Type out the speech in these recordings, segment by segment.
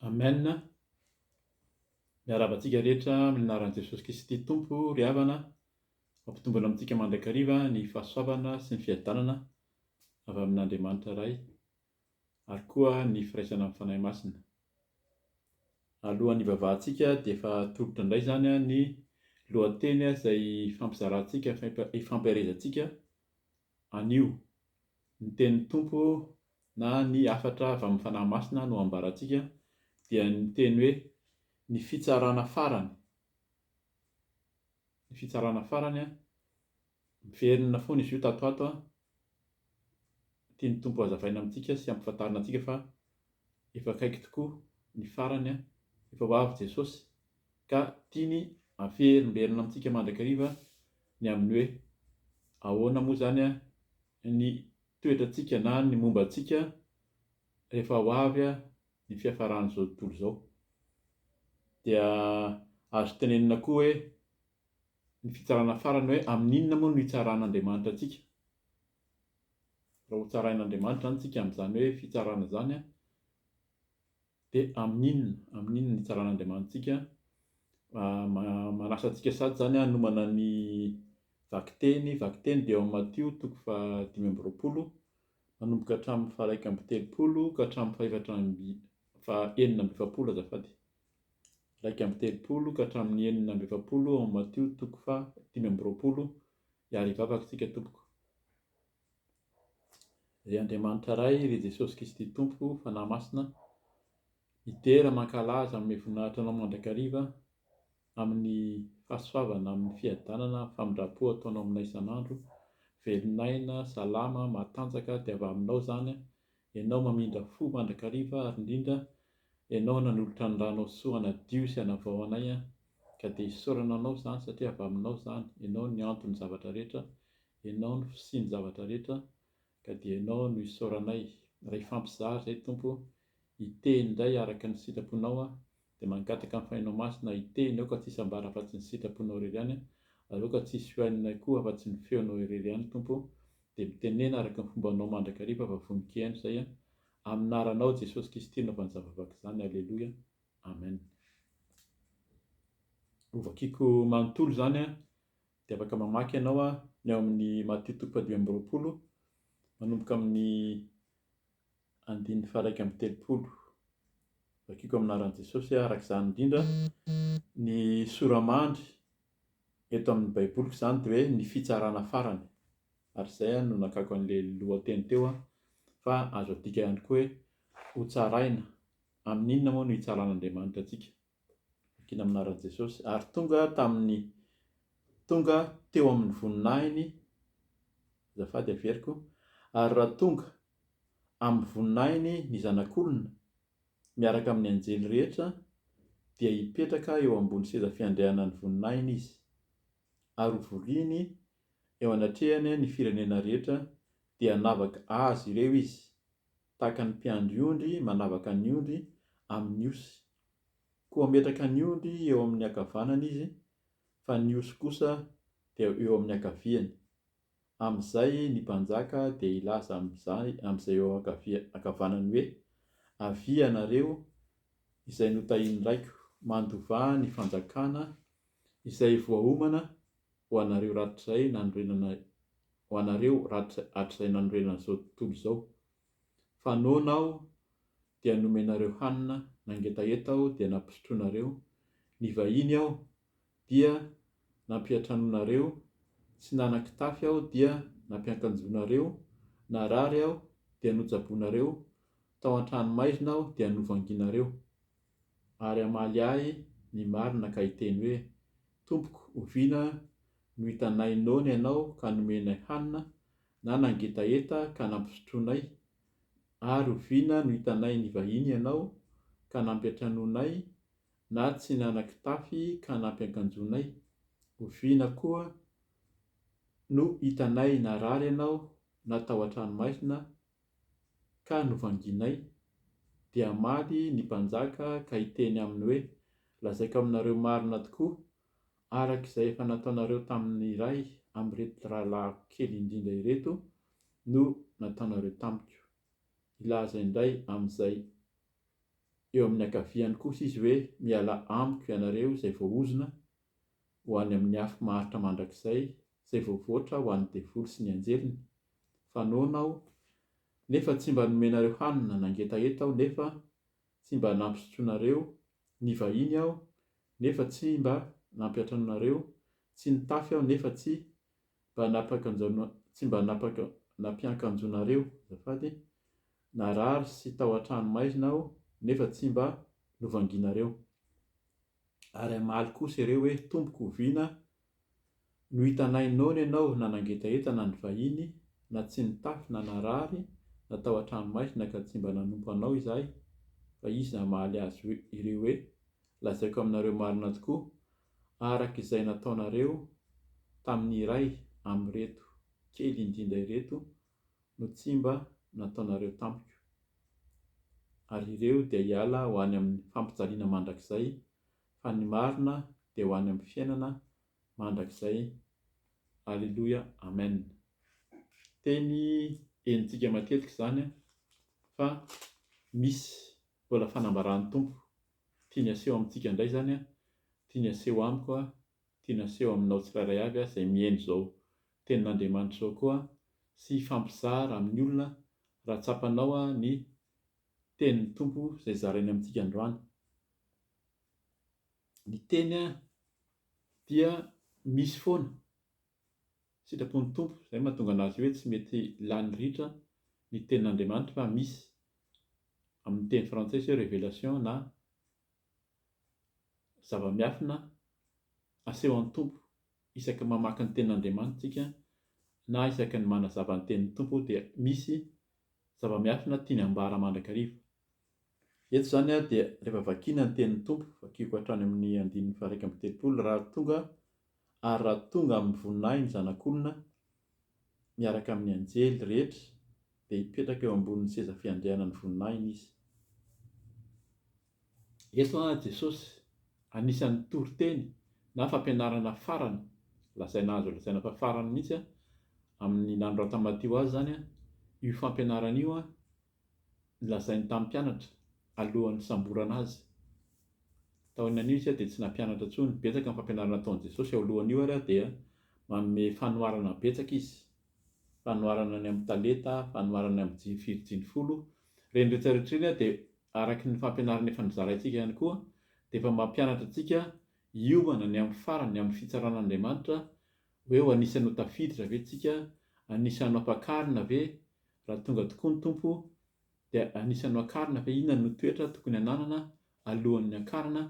Amen, miarahaba antsika rehetra amin'ny anaran'i Jesosy Kristy Tompo ry havana, mampitombona amintsika mandrakariva ny fahasoavana sy ny fiadanana avy amin'Andriamanitra Ray ary koa ny firaisana amin'ny Fanahy Masina. Alohan'ny hivavahantsika dia efa tolotra indray izany ny lohateny izay ifampizarantsika, ifampiharezantsika Anio, ny tenin'ny Tompo na ny hafatra avy amin'ny Fanahy Masina no ambarantsika dia ny teny hoe ny fitsarana farany, ny fitsarana farany an, miverina foana izy io tato ho ato an, tian'ny Tompo hazavaina amintsika sy ampifantarina antsika fa efa akaiky tokoa ny farany an, efa ho avy Jesosy. ka tiany haferimberina amintsika mandrakariva ny amin'ny hoe, ahoana moa izany ny toetrantsika na ny momba antsika rehefa ho avy ny fiafaran'izao tontolo izao. Dia azo tenenina koa hoe, ny fitsarana farany hoe, amin'inona moa no hitsaran'Andriamanitra antsika? Raha hotsarain'Andriamanitra izany isika amin'izany hoe fitsarana izany, Dia amin'inona? Amin'inona ny hitsaran'Andriamanitsika? Manasa antsika sady izany hanomana ny vakiteny. Vakiteny dia ao amin'ny Matio toko fahadimy amby roapolo, manomboka hatramin'ny faharaika amby telopolo ka hatramin'ny fahefatra amby fahenina amby efapolo azafady. Iraika amby telopolo ka hatramin'ny enina amby efapolo ao amin'ny Matio toko fahadimy amby roapolo. Hiarivavaka isika tompoko. Ry Andriamanitra Ray, ry Jesosy Kristy Tompo, Fanahy Masina, midera, mankalaza amin'ny voninahitra Anao mandrakariva, amin'ny fahasoavana, amin'ny fiadanana, amin'ny famindram-po ataonao aminay isan'andro, velon'aina, salama, matanjaka, dia avy Aminao izany, Ianao mamindra fo mandrakariva, ary indrindra, Ianao nanolotra ny Ranao soa hanadio sy hanavao anay, ka dia isaorana Anao izany, satria avy Aminao izany, Ianao ny anton'ny zavatra rehetra, Ianao no fisian'ny zavatra rehetra ka dia Ianao no isaoranay. Raha hifampizara izay Tompo, hiteny indray araka ny sitraponao aho, dia mangataka ny Fanahinao Masina hiteny aoka tsy hisy ambara afa-tsy ny sitraponao irery ihany ary aoka tsy hisy hohaninay koa afa-tsy ny feonao irery ihany Tompo dia mitenena araka ny fombanao mandrakariva fa vonon-kehano izay amin'aranao Jesosy Kisty naovan'ny zava-vaky izany Aleloia Amen Ho vakiako manontolo izany Dia afaka mamaky ianao ny ao amin'ny Matio toko fahadimy amby roapolo, manomboka amin'ny andininy faha-iraika amby telopolo. Vakiko amin'ny anaran'i Jesosy araka izany indrindra. Ny sora-mandry eto amin'ny Baiboliko izany dia hoe ny fitsarana farany. Ary izay no nakako an'ilay lohateny teo fa azo adika ihany koa hoe hotsaraina. Amin'inona moa no hitsaran'Andriamanitra antsika? Vakina amin'ny anaran'i Jesosy. Ary tonga tamin'ny, tonga teo amin'ny voninahiny, azafady averiko, ary raha tonga amin'ny voninahiny ny Zanak'olona, miaraka amin'ny anjely rehetra, dia hipetraka eo ambony seza fiandrianan'ny voninahiny izy, ary hovoriany eo anatrehany ny firenena rehetra, dia hanavaka azy ireo izy, tahaka ny mpiandry ondry manavaka ny ondry amin'ny osy Koa hametraka ny ondry eo amin'ny ankavanany izy, fa ny osy kosa dia eo amin'ny ankaviany. Amin'izay ny mpanjaka dia hilaza amin'izany, amin'izay eo ankavia, ankavanany hoe, Avia ianareo izay notahin'ny Raiko, mandovà ny fanjakana izay voaomana ho anareo rahatrizay nanorenana, ho anareo rahatrizay, hatrizay nanorenana izao tontolo izao. Fa noana aho dia nomenareo hanina, nangetaheta aho dia nampisotroanareo, nivahiny aho dia nampiantranoanareo, tsy nanan-kitafy aho dia nampiankanjoanareo, narary aho dia notsaboinareo, tao an-tranomaizina aho dia novanginareo. Ary hamaly ahy ny marina ka hiteny hoe, Tompoko, oviana no hitanay noana ianao ka nomenay hanina, na nangetaheta ka nampisotroanay? Ary oviana no hitanay nivahiny ianao ka nampiantranoanay, na tsy nanan-kitafy ka nampiankanjoanay? Oviana koa no hitanay narary ianao na tao an-tranomaizina ka novangianay? Dia hamaly ny mpanjaka ka hiteny aminy hoe, Lazaiko aminareo marina tokoa, araka izay efa nataonareo tamin'ny iray amin'ireto rahalahiko kely indrindra ireto no nataonareo tamiko. Hilaza indray amin'izay eo amin'ny ankaviany kosa izy hoe, Mialà amiko ianareo izay voaozona ho any amin'ny afo maharitra mandrakizay, izay voavoatra ho an'ny devoly sy ny anjeliny, fa noana aho, nefa tsy mba nomenareo hanina, nangetaheta aho, nefa tsy mba nampisotroinareo, Nivahiny aho nefa tsy mba nampiantranoanareo, tsy nitafy aho nefa tsy mba nampiakanjoana tsy mba nampiakanjoanareo, azafady, narary sy tao an-trano maizina aho nefa tsy mba novangianareo. Ary hamaly kosa iareo hoe, Tompoko, oviana no hitanay noana ianao na nangetaheta na nivahiny na tsy nitafy na narary na tao an-tranomaizina ka tsy mba nanompo anao izahay fa izy namaly azy ireo hoe lazaiko aminareo marina tokoa araka izay nataonareo tamin'ny iray amin'ireto kely indinda ireto no tsy mba nataonareo tamiko ary ireo dia hiala ho any amin'ny fampijaliana mandrakizay fa ny marina dia ho any amin'ny fiainana mandrakizay Alléluia Amen teny henontsika matetika izany fa misy mbola fanambaran'ny Tompo tiany aseho amintsika indray izany tiany aseho amiko tiany aseho aminao tsirairay avy izay mihaino izao tenin'Andriamanitra izao koa sy hifampizara amin'ny olona raha tsapanao ny tenin'ny Tompo izay zarainy amintsika androany ny teny an dia misy foana sitrapon'ny Tompo izay mahatonga anazy hoe tsy mety lany ritra ny tenin'Andriamanitra fa misy amin'ny teny frantsay sao révélation na zava-miafina asehon'ny Tompo isaka mamaky ny tenin'Andriamanitra tsika na isaka ny manazava ny tenin'ny Tompo dia misy zava-miafina tiany ambara mandrakariva Eto izany dia rehefa vakiana ny tenin'ny Tompo, vakiako hatrany amin'ny andininy faharaika amby telopolo raha tonga ary raha tonga amin'ny voninahiny Zanak'olona miaraka amin'ny anjely rehetra dia hipetraka eo ambonin'ny seza fiandrianan'ny voninahiny Izy. Eto Jesosy anisan'ny toriteny na fampianarana farany lazaina azo lazaina fa farany mihitsy amin'ny nanoratan'i Matio azy izany io fampianarana io lazainy tamin'ny mpianatra alohan'ny nisamborana Azy. Taorian'io Izy dia tsy nampianatra intsony. Betsaka ny fampianarana nataon'i Jesosy eo alohan'io ary dia manome fanoharana betsaka Izy. Fanoharana ny amin'ny talenta, fanoharana ny amin'ny firy jiny folo. Ireny rehetrarehetra ireny ary dia araka ny fampianarana efa nozaraintsika ihany koa dia efa mampianatra antsika hiomana ny amin'ny farany, ny amin'ny fitsaran'Andriamanitra, hoe ho anisan'ny ho tafiditra ve isika, anisan'ny ho ampakarina ve, raha tonga tokoa ny Tompo dia anisan'ny hoakarina fa inona no toetra tokony hananana alohan'ny hiakarana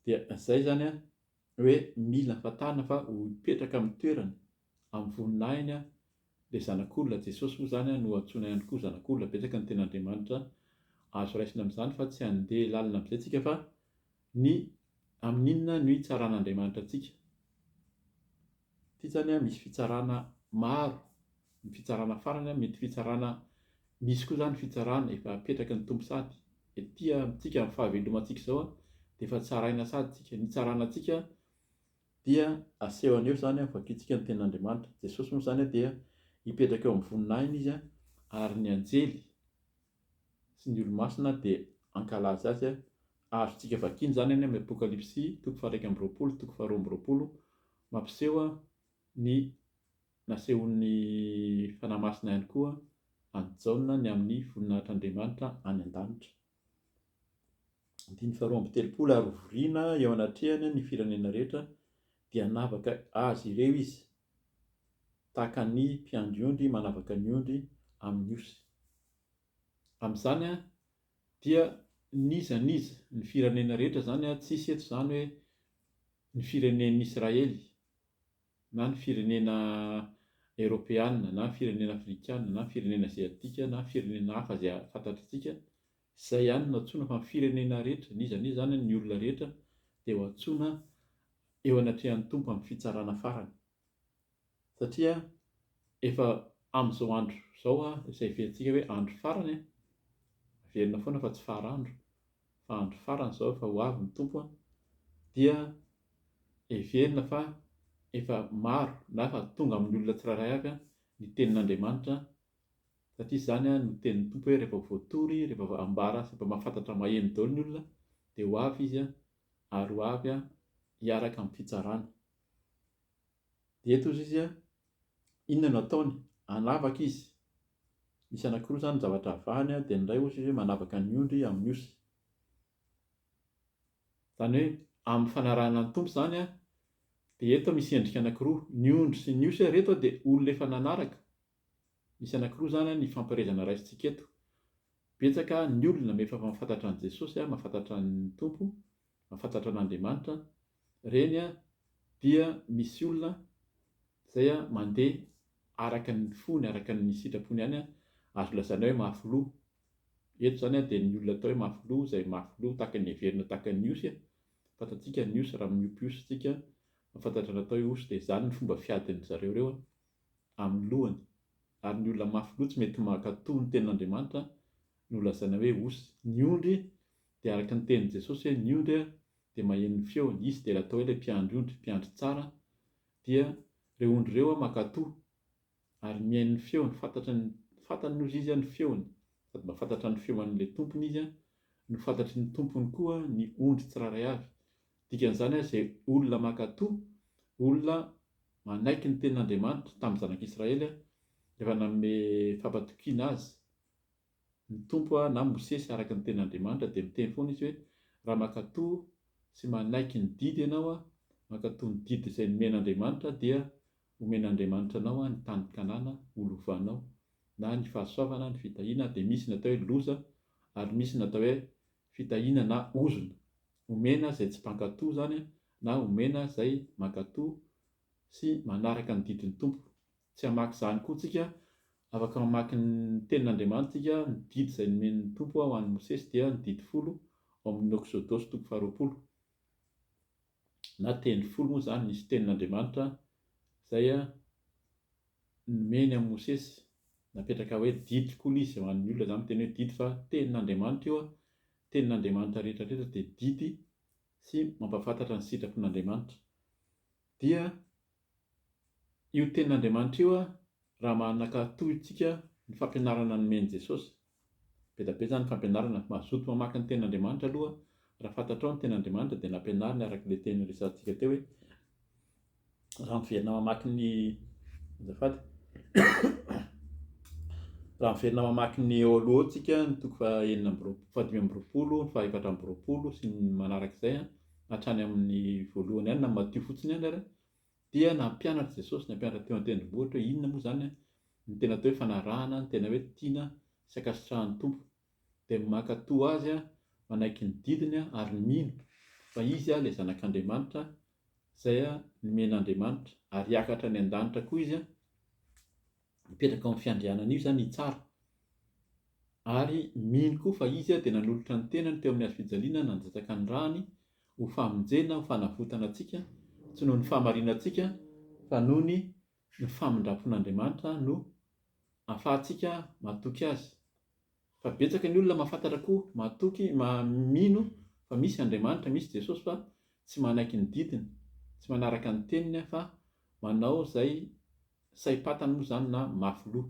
dia izay izany hoe mila fantarina fa ho hipetraka amin'ny toerany amin'ny voninahiny ilay zanak'olona Jesosy moa izany no antsoina ihany koa zanak'olona betsaka ny ten'Andriamanitra azo raisina amin'izany fa tsy handeha lalina amin'izay tsika fa ny amin'inona no hitsaran'Andriamanitra antsika Ity zany an misy fitsarana maro, ny fitsarana farany an mety fitsarana misy koa zany fitsarana efa apetraky ny Tompo sady ety amintsika amin'ny fahavelomantsika izao an dia efa tsaraina sady tsika, ny hitsarana antsika dia aseho aneo zany an vakintsika ny tenin'Andriamanitra, Jesosy moa zany an dia hipetraka eo amin'ny voninahiny izy an ary ny anjely sy ny olomasina dia hankalaza azy, azontsika vakina izany any amin'ny Apokalypsy toko faha-iraika amby roapolo, toko faharoa amby roapolo, mampiseho ny nasehon'ny Fanahy Masina ihany koa an'i Jaona ny amin'ny voninahitr'Andriamanitra any an-danitra. Andininy faharoa amby telopolo, ary hovoriana eo anatrehany ny firenena rehetra, dia hanavaka azy ireo izy, tahaka ny mpiandry ondry manavaka ny ondry amin'ny osy. Amin'izany dia n'iza n'iza, ny firenena rehetra izany, tsisy eto izany hoe ny firenen'i Israely, na ny firenena eropeana, na ny firenena afrikana, na ny firenena aziatika, na ny firenena hafa izay fantatr'antsika, Izay ihany no antsoina fa ny firenena rehetra, n'iza n'iza izany, ny olona rehetra dia ho antsoina eo anatrehan'ny Tompo amin'ny fitsarana farany. Satria efa amin'izao andro izao, izay heverintsika hoe andro farany, averina foana fa tsy fara-andro, fa andro farany izao efa ho avy ny Tompo, dia heverina fa efa maro na efa tonga amin'ny olona tsirairay avy ny tenin'Andriamanitra, Satria izany no tenin'ny Tompo hoe rehefa voatory, rehefa ambara sy efa mahafantatra maheno daholo ny olona dia ho avy Izy ary ho avy hiaraka amin'ny fitsarana. Dia eto hozy izy inona no ataony? Hanavaka izy. Misy anankiroa izany ny zavatra avahany dia ny iray hozy izy hoe manavaka ny ondry amin'ny osy. Izany hoe amin'ny fanarahana ny Tompo izany dia eto misy endrika anankiroa, ny ondry sy ny osy ary eto dia olona efa nanaraka. Misy anakiroa zany an ny hifampiherezana raisintsika eto. Betsaka ny olona efa mahafantatra an'i Jesosy an, mahafantatra ny Tompo, mahafantatra an'Andriamanitra an, reny an dia misy olona zay an mandeha araka ny fony, araka ny sitrapony ihany an, azo lazaina hoe mafy loha. Eto zany an dia ny olona atao hoe mafy loha, zay mafy loha tahaka ny heverina tahaka ny osy an, fantatsika ny osy raha miompy osy tsika an, mahafantatra ny atao hoe osy dia zany ny fomba fiadin'ny zareo reo an. amin'ny lohany, ary ny olona mafy loha tsy mety mankatò ny tenin'Andriamanitra no lazaina hoe osy. Ny ondry dia araka ny tenin'i Jesosy hoe ny ondry dia maheno ny feony, izy dia ilay atao hoe ilay mpiandry ondry, mpiandry tsara dia ireo ondry ireo mankatò ary mihaino ny feony, fantatry ny fantany hozy izy ny feony, sady mahafantatra ny feon'ilay tompony izy, nofantatry ny tompony koa ny ondry tsirairay avy. Dikan'izany ary izay olona mankatò, olona manaiky ny tenin'Andriamanitra tamin'ny Zanak'i Israely rehefa nanome fampatokiana azy ny Tompo na Mosesy araka ny tenin'Andriamanitra dia miteny foana izy hoe raha mankatò sy manaiky ny didy ianao, mankatò ny didy izay nomen'Andriamanitra dia homen'Andriamanitra anao ny tany Kanana ho lovanao na ny fahasoavana, ny fitahiana dia misy ny atao hoe loza ary misy ny atao hoe fitahiana na ozona, omena izay tsy mpankato izany na omena izay mankato sy manaraka ny didin'ny Tompo. Tsy hamaky izany koa tsika, afaka mamaky ny tenin'Andriamanitra tsika, ny didy izay nomen'ny Tompo ho an'i Mosesy dia ny didy folo ao amin'ny Oksodosy toko faharoapolo. na teny folo moa izany nisy tenin'Andriamanitra izay nomeny an'i Mosesy, napetraka hoe didy koa ilay izy, ho an'ny olona izany miteny hoe didy fa tenin'Andriamanitra io, ny tenin'Andriamanitra rehetra rehetra dia didy sy mampahafantatra ny sitrapon'Andriamanitra. Dia io tenin'Andriamanitra io raha manakatoa isika ny fampianarana nomen'i Jesosy. Bedabe izany fampianarana. Mazoto mamaky ny tenin'Andriamanitra aloha. Raha fantatrao ny tenin'Andriamanitra dia nampianariny araka ilay teny resahantsika teo hoe raha miverina mamaky ny azafady raha miverina mamaky ny eo aloha eo tsika ny toko fahenina amby roapolo fahadimy amby roapolo fahaefatra amby roapolo sy ny manarak'izay hatrany amin'ny voalohany ihany na Matio fotsiny ihany ary dia nampianatra Jesosy ny hampianatra teo an-tendrombohitra hoe inona moa izany ny tena atao hoe fanarahana, ny tena hoe tiana sy ankasitrahan'ny Tompo. Dia mankatò azy, manaiky ny didiny ary mino fa izy ilay Zanak'Andriamanitra izay nomen'Andriamanitra ary hiakatra any an-danitra koa izy. mipetraka ao amin'ny fiandrianana io izany i Tsara. Ary mino koa fa izy dia nanolotra ny tenany teo amin'ny hazo fijaliana nandatsaka ny rany ho famonjena, ho fanavotana antsika, tsy noho ny fahamarinantsika fa noho ny famindram-pon'Andriamanitra no ahafahantsika matoky Azy. Fa betsaka ny olona mahafantatra koa mahatoky maha mino fa misy Andriamanitra, misy Jesosy fa tsy manaiky ny didiny, tsy manaraka ny teniny fa manao zay saim-patany moa zany na mafy loha.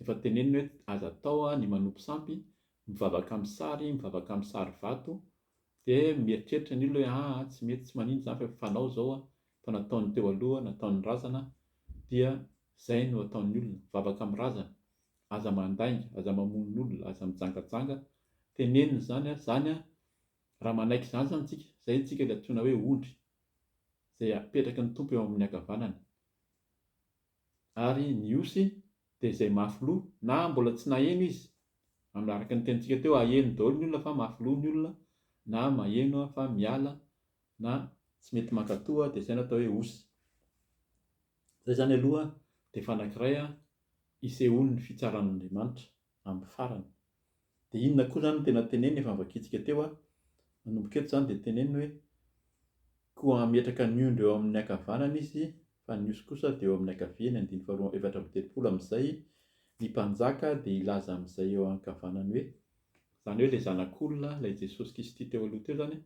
Efa teneniny hoe aza atao ny manompo sampy, mivavaka amin'ny sary, mivavaka amin'ny sary vato, de mieritreritra ny olona hoe aa tsy mety tsy manino zany fa efa fanao zao fa nataon'ny teo aloha, nataon'ny razana dia zay no ataon'ny olona, mivavaka amin'ny razana. aza mandainga, aza mamono olona, aza mijangajanga, tenenina izany ary izany an, raha manaiky izany izany tsika, izay tsika ilay antsoina hoe ondry, izay apetraky ny Tompo eo amin'ny ankavanany. Ary ny osy dia izay mafy loha, na mbola tsy naheno izy, amin'ny araka ny tenintsika teo, aheno daholo ny olona fa mafy loha ny olona, na maheno fa miala, na tsy mety mankatoa, dia izay no atao hoe osy. Izay izany aloha dia efa anankiray isehoan'ny fitsaran'Andriamanitra amin'ny farany. Dia inona koa izany no tena teneniny efa novakintsika teo an, manomboka eto izany dia teneniny hoe, Koa hametraka ny ondry eo amin'ny ankavanany izy fa ny osy kosa dia eo amin'ny ankaviany, andininy faharoa efatra amby telopolo, amin'izay ny mpanjaka dia hilaza amin'izay eo ankavanany hoe, izany hoe ilay zanak'olona, ilay Jesosy Kisty teo aloha teo izany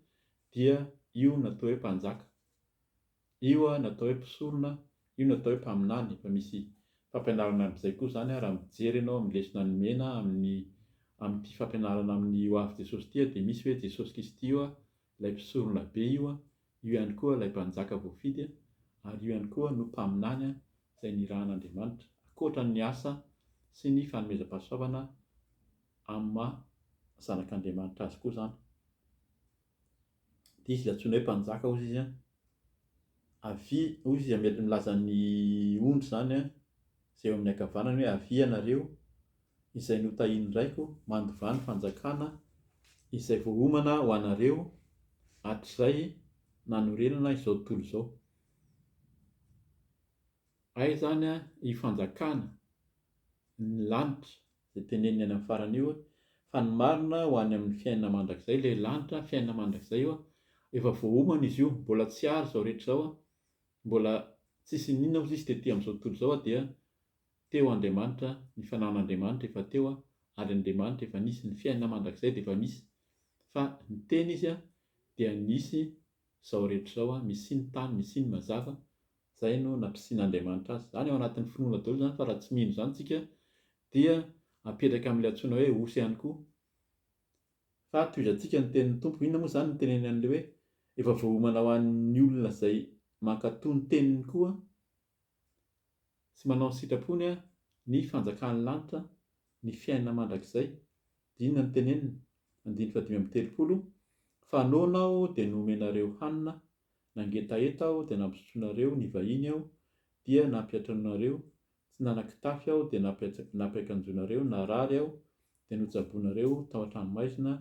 dia io no atao hoe mpanjaka. Io no atao hoe mpisorona, io no atao hoe mpaminany, efa misy fampianarana amin'izay koa izany raha mijery ianao amin'ny lesona nomena amin'ny amin'ity fampianarana amin'ny ho avy Jesosy ity dia misy hoe Jesosy Kristy io ilay mpisorona be io, io ihany koa ilay mpanjaka voafidy ary io ihany koa no mpaminany izay nirahan'Andriamanitra ankoatra ny asa sy ny fanomezam-pahasoavana amin'ny maha zanak'Andriamanitra azy koa izany. Dia izy dia antsoina hoe mpanjaka hozy izy an, avia hozy izy an, milaza ny ondry izany an, izay eo amin'ny ankavanany hoe avia ianareo izay notahian'ny raiko, mandovà ny fanjakana izay voaomana ho anareo hatrizay nanorenana izao tontolo izao. Hay izany an, io fanjakana ny lanitra. dia teneniny any amin'ny farany io fa ny marina ho any amin'ny fiainana mandrakizay ilay lanitra fiainana mandrakizay io efa voaomana izy io mbola tsy ary izao rehetra izao mbola tsisy inona ozy izy tety amin'izao tontolo izao dia teo Andriamanitra ny fanan'Andriamanitra efa teo ary Andriamanitra efa nisy ny fiainana mandrakizay dia efa misy fa ny teny izy dia nisy izao rehetra izao misy ny tany misy ny mazava Izay no nampisian'Andriamanitra azy. Izany ao anatin'ny finoana daholo izany fa raha tsy mino izany tsika dia apetraka amin'ilay antsoina hoe osy ihany koa. Fa tohizantsika ny tenin'ny Tompo. Inona moa izany no teneniny an'ilay hoe efa voaomana ho an'ny olona izay mankatoa ny teniny koa sy manao ny sitrapony ny fanjakan'ny lanitra, ny fiainana mandrakizay. Dia inona no teneniny? Andininy fahadimy amby telopolo, Fa noana aho dia nomenareo hanina Nangetaheta aho dia nampisotroinareo ny vahiny aho dia nampiatranoinareo, tsy nanan-kitafy aho dia nampiakanjoinareo, narary aho dia notsaboinareo, tao an-tranomaizina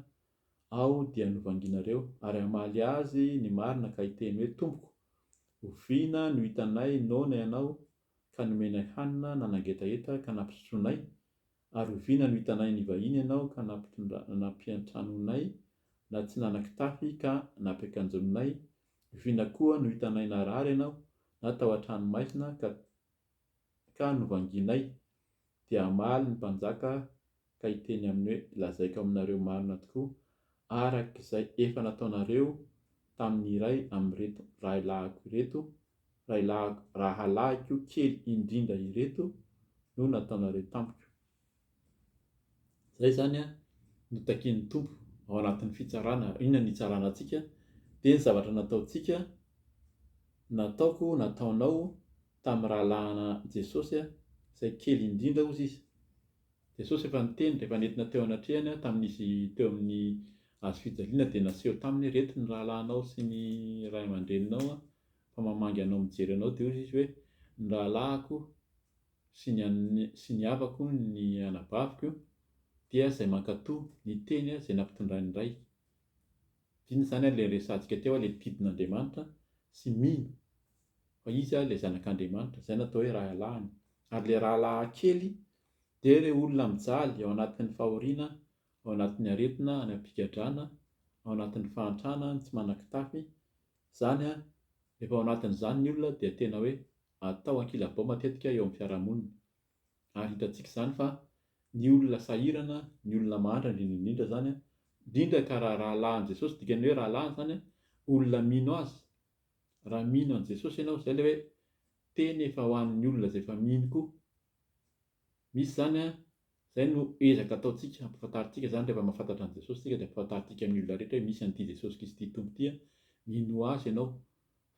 aho dia novanginareo. Ary hamaly azy ny marina ka hiteny hoe, Tompoko, oviana no hitanay noana ianao ka nomenay hanina nanangetaheta ka nampisotroanay, ary oviana no hitanay nivahiny ianao ka nampiantranonay, na tsy nanan-kitafy ka nampiakanjonay? Oviana koa no hitanay narary ianao, na tao an-trano maizina ka novangianay? Dia hamaly ny mpanjaka ka hiteny aminy hoe, Lazaiko aminareo marina tokoa, araka izay efa nataonareo tamin'ny iray amin'ireto rahilahiko ireto, rahilahiko, rahalahiko kely indrindra ireto, no nataonareo tamiko. Izay izany no takian'ny Tompo ao anatin'ny fitsarana. Inona no hitsarana antsika? Dia ny zavatra nataontsika, nataoko, nataonao tamin'ny rahalahin'i Jesosy, izay kely indrindra, hozy Izy. Jesosy efa niteny rehefa nentina teo anatrehany aho tamin'izy teo amin'ny hazo fijaliana dia naseho taminy hoe reto ny rahalahinao sy ny ray aman-dreninao fa mamangy anao mijery anao dia hoy izy hoe ny rahalahiko sy ny sy ny havako ny anabaviko dia izay mankato ny teny izay nampitondrain'ny ray dina izany ary ilay resahantsika teo hoe ilay mpidin'Andriamanitra sy mino fa izy ary ilay zanak'Andriamanitra, izay no atao hoe rahalahiny, ary ilay rahalahy kely dia ireo olona mijaly ao anatin'ny fahoriana, ao anatin'ny aretina any am-pigadrana, ao anatin'ny fahantrana ny tsy manan-kitafy, izany rehefa ao anatin'izany ny olona dia tena hoe atao ankilabao matetika eo amin'ny fiarahamonina, ary hitantsika izany fa ny olona sahirana, ny olona mahantra indrindra indrindra izany, indrindra ka raha rahalahin'i Jesosy, dikany hoe rahalahiny izany olona mino azy, Raha mino an'i Jesosy ianao, izay ilay hoe teny efa ho an'ny olona izay efa mino koa. Misy izany an, izay no ezaka ataontsika, ampahafantarintsika izany rehefa mahafantatra an'i Jesosy isika dia ampahafantarintsika amin'ny olona rehetra hoe misy an'ity Jesosy Kristy ity Tompo ity an, minoa Azy ianao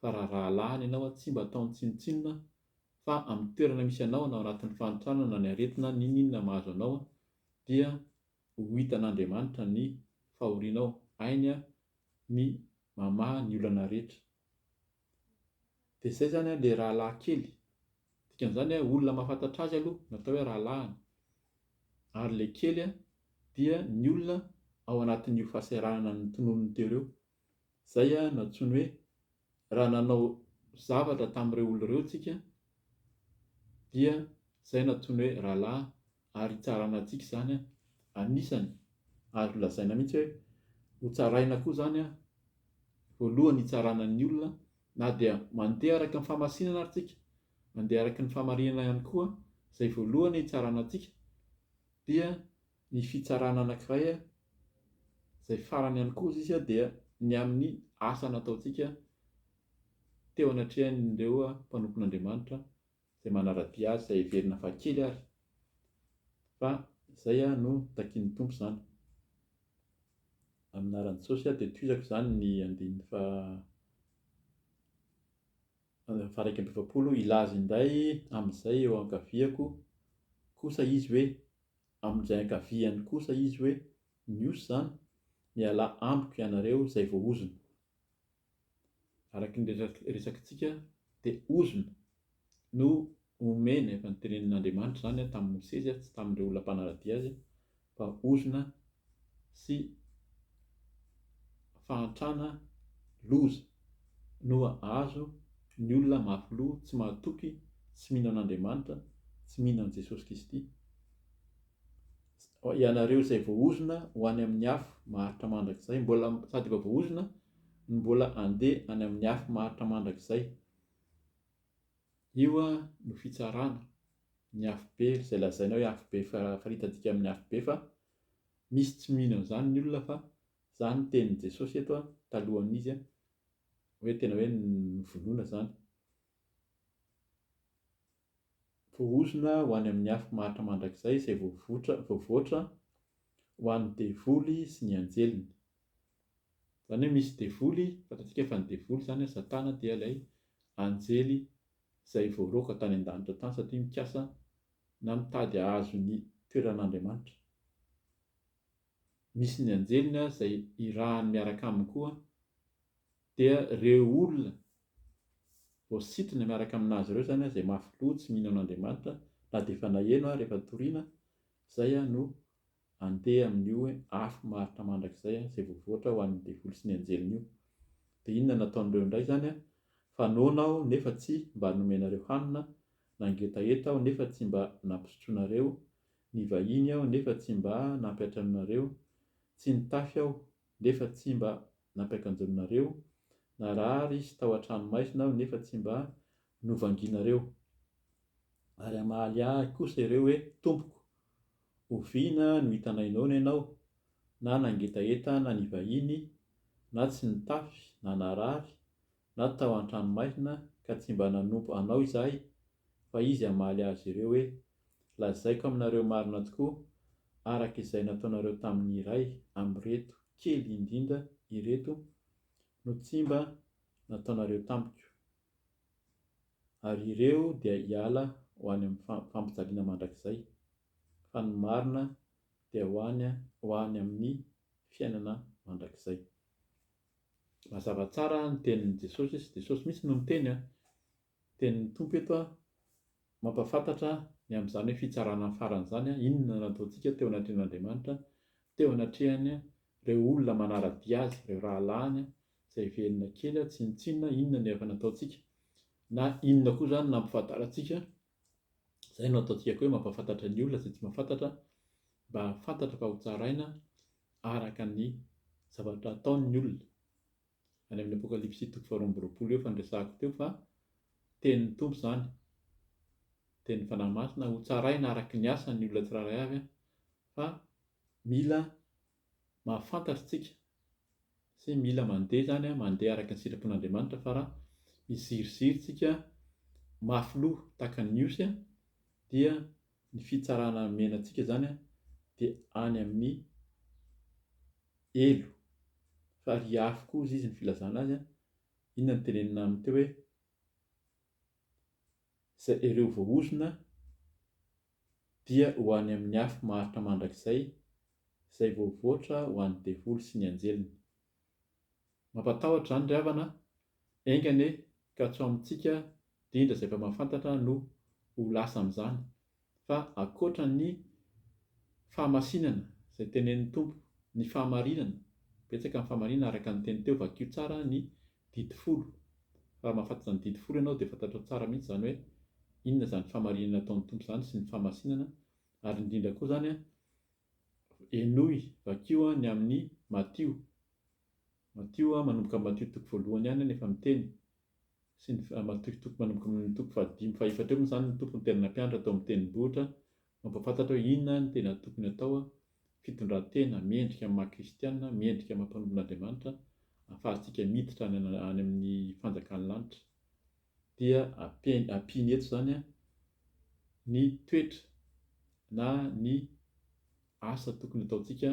fa raha rahalahiny ianao an, tsy mba ataony tsinontsinona an, fa amin'ny toerana misy anao na ao anatin'ny fahantrana na ny aretina n'inon'inona mahazo anao an, dia ho hitan'Andriamanitra ny fahorianao, hainy ny mamaha ny olana rehetra. Dia izay izany ilay rahalahy kely, dikan'izany hoe olona mahafantatra azy aloha no atao hoe rahalahiny, ary ilay kely dia ny olona ao anatin'io fahasahiranana notononin'i Teo ireo Izay no antsoiny hoe raha nanao zavatra tamin'ireo olona ireo isika dia izay no antsoiny hoe rahalahy ary hitsarana antsika izany. Anisany azo lazaina mihitsy hoe hotsaraina koa izany voalohany hitsarana ny olona na dia mandeha araka ny famasinana ary isika, mandeha araka ny famarinana ihany koa izay voalohany hitsarana antsika dia ny fitsarana anankiray a, izay farany ihany koa sisa dia ny amin'ny asa nataontsika teo anatrehan'ireo mpanompon'Andriamanitra izay manara-dia azy, izay heverina fa kely ary, fa izay no takian'ny Tompo izany. Amin'ny anaran'i Jesosy aho dia tohizako izany ny andininy faha faharaika amby efapolo, hilaza indray amin'izay eo ankaviako kosa izy hoe, amin'izay ankaviany kosa izy hoe, Miosy izany, mialà amiko ianareo izay voahozona. Araka ny resakintsika dia ozona no omeny, efa notenenin'Andriamanitra izany tamin'i Mosesy, tsy tamin'ireo olona mpanara-dia azy, fa ozona sy fahantrana loza no ahazo ny olona mafy loha tsy mahatoky tsy mino an'Andriamanitra tsy mino an'i Jesosy Kisty ianareo izay voahozona ho any amin'ny afo maharitra mandrakizay mbola sady efa voahozona no mbola andeha any amin'ny afo maharitra mandrakizay Io no fitsarana, ny afobe, izay lazaina hoe afobe faritantika amin'ny afobe fa misy tsy mino an'izany ny olona fa izany no tenin'i Jesosy eto talohan'izy hoe tena hoe novonoina izany. Voahozona ho any amin'ny afo maharitra mandrakizay izay voavoatra ho an'ny devoly sy ny anjeliny. Izany hoe misy devoly, fantatsika fa ny devoly izany an, satana dia ilay anjely izay voaroaka tany an-danitra tany satria mikasa na mitady hahazo ny toeran'Andriamanitra. Misy ny anjeliny ary izay irahany miaraka aminy koa dia ireo olona voasintona miaraka aminazy ireo izany an, izay mafy loha tsy mino an'Andriamanitra na dia efa naheno ary efa torina, izay an no Andeha amin'io afo maharitra mandrakizay izay voavoatra ho an'ny devoly sy ny anjeliny io. Dia inona no ataon'ireo indray izany? Fa noana aho nefa tsy mba nomenareo hanina, nangetaheta aho nefa tsy mba nampisotroinareo, nivahiny aho nefa tsy mba nampiantranoinareo, tsy nitafy aho nefa tsy mba nampiakanjoninareo, narary sy tao an-trano maizina aho nefa tsy mba novangianareo. Ary hamaly ahy kosa ireo hoe, Tompoko! Oviana no hitanay noana ianao, na nangetaheta na nivahiny, na tsy nitafy na narary, na tao an-tranomaizina ka tsy mba nanompo Anao izahay? Fa Izy hamaly azy ireo hoe, Lazaiko aminareo marina tokoa, araka izay nataonareo tamin'ny iray amin'ireto kely indrindra ireto no tsy mba nataonareo tamiko. ary ireo dia hiala ho any amin'ny fampijaliana mandrakizay, fa ny marina dia ho any ho any amin'ny fiainana mandrakizay. Mazava tsara ny tenin'i Jesosy, Jesosy mihitsy no niteny, ny tenin'ny Tompo eto Mampahafantatra ny amin'izany fitsarana farany izany inona no ataontsika teo anatrehan'Andriamanitra, teo anatrehan'ireo olona manara-dia azy, ireo rahalahiny izay velona kely tsinontsinona inona no efa nataontsika, na inona koa izany nampifantarantsika, izay no ataontsika koa hoe mampahafantatra ny olona izay tsy mahafantatra mba hahafantatra fa hotsaraina araka ny zavatra ataon'ny olona. any amin'ny Apokalypsy toko faharoa amby roapolo eo fa niresahako teo fa tenin'ny Tompo izany, tenin'ny Fanahy Masina, hotsaraina araka ny asany ny olona tsirairay avy fa mila mahafantatra isika sy mila mandeha izany, mandeha araka ny sitrapon'Andriamanitra fa raha miziriziry isika mafy loha tahaka ny Osy dia ny fitsarana omena antsika izany dia any amin'ny Elo. Fa ry afo koa hozy izy ny filazana azy an! Inona no tenenina aminy teo hoe Izay ireo voahozona dia ho any amin'ny afo maharitra mandrakizay izay voavoatra ho an'ny devoly sy ny anjeliny. Mampatahotra izany ry havana Enga anie ka tsy ho amintsika dindra izay mpamafantatra no ho lasa amin'izany, fa ankoatra ny fahamasinana izay tenenin'ny Tompo, ny fahamarinana, betsaka ny fahamarinana araka ny teny teo, vakio tsara ny didy folo, fa raha mahafantatra ny didy folo ianao dia fantatrao tsara mihitsy izany hoe inona izany fahamarinana ataon'ny Tompo izany sy ny fahamasinana, ary indrindra koa izany henoy, vakio ny amin'ny Matio, Matio a, manomboka amin'ny Matio toko voalohany ihany anefa ny teny, sy ny Matio toko manomboka amin'ny toko fahadimy, fahefatra eo moa izany ny Tompo no tena nampianatra tao amin'ny tendrombohitra, mampahafantatra hoe inona ny tena tokony atao, fitondran-tena mendrika amin'ny maha-kristiana, mendrika amin'ny mpanompon'Andriamanitra, ahafahantsika miditra any any amin'ny fanjakan'ny lanitra. Dia ampiany ampiany eto izany a, ny toetra na ny asa tokony ataontsika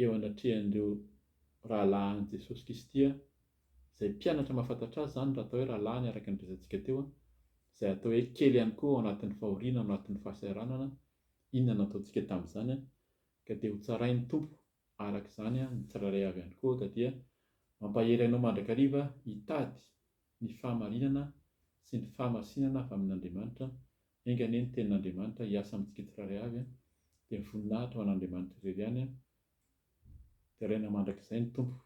eo anatrehan'ireo rahalahin'i Jesosy Kristy izay mpianatra mahafantatra azy izany raha atao hoe rahalahiny araka ny resatsika teo, izay atao hoe kely ihany koa ao anatin'ny fahoriana ao anatin'ny fahasahiranana, inona no ataontsika tamin'izany? ka dia hotsarain'ny Tompo araka izany ny tsirairay avy ihany koa, ka dia mampahery anao mandrakariva hitady ny fahamarinana sy ny fahamasinana avy amin'Andriamanitra Enga anie ny Tenin'Andriamanitra hiasa amintsika tsirairay avy an! Dia ny voninahitra ho an'Andriamanitra irery ihany an! Deraina mandrakizay ny Tompo!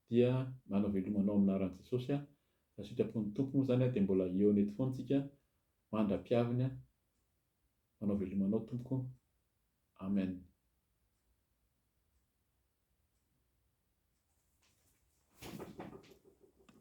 Dia manao veloma anao amin'ny anaran'i Jesosy aho, raha sitrapon'ny Tompo moa izany dia mbola hihaona eto foana isika mandra-piaviny an! Manao veloma anao Tompoko! Amen!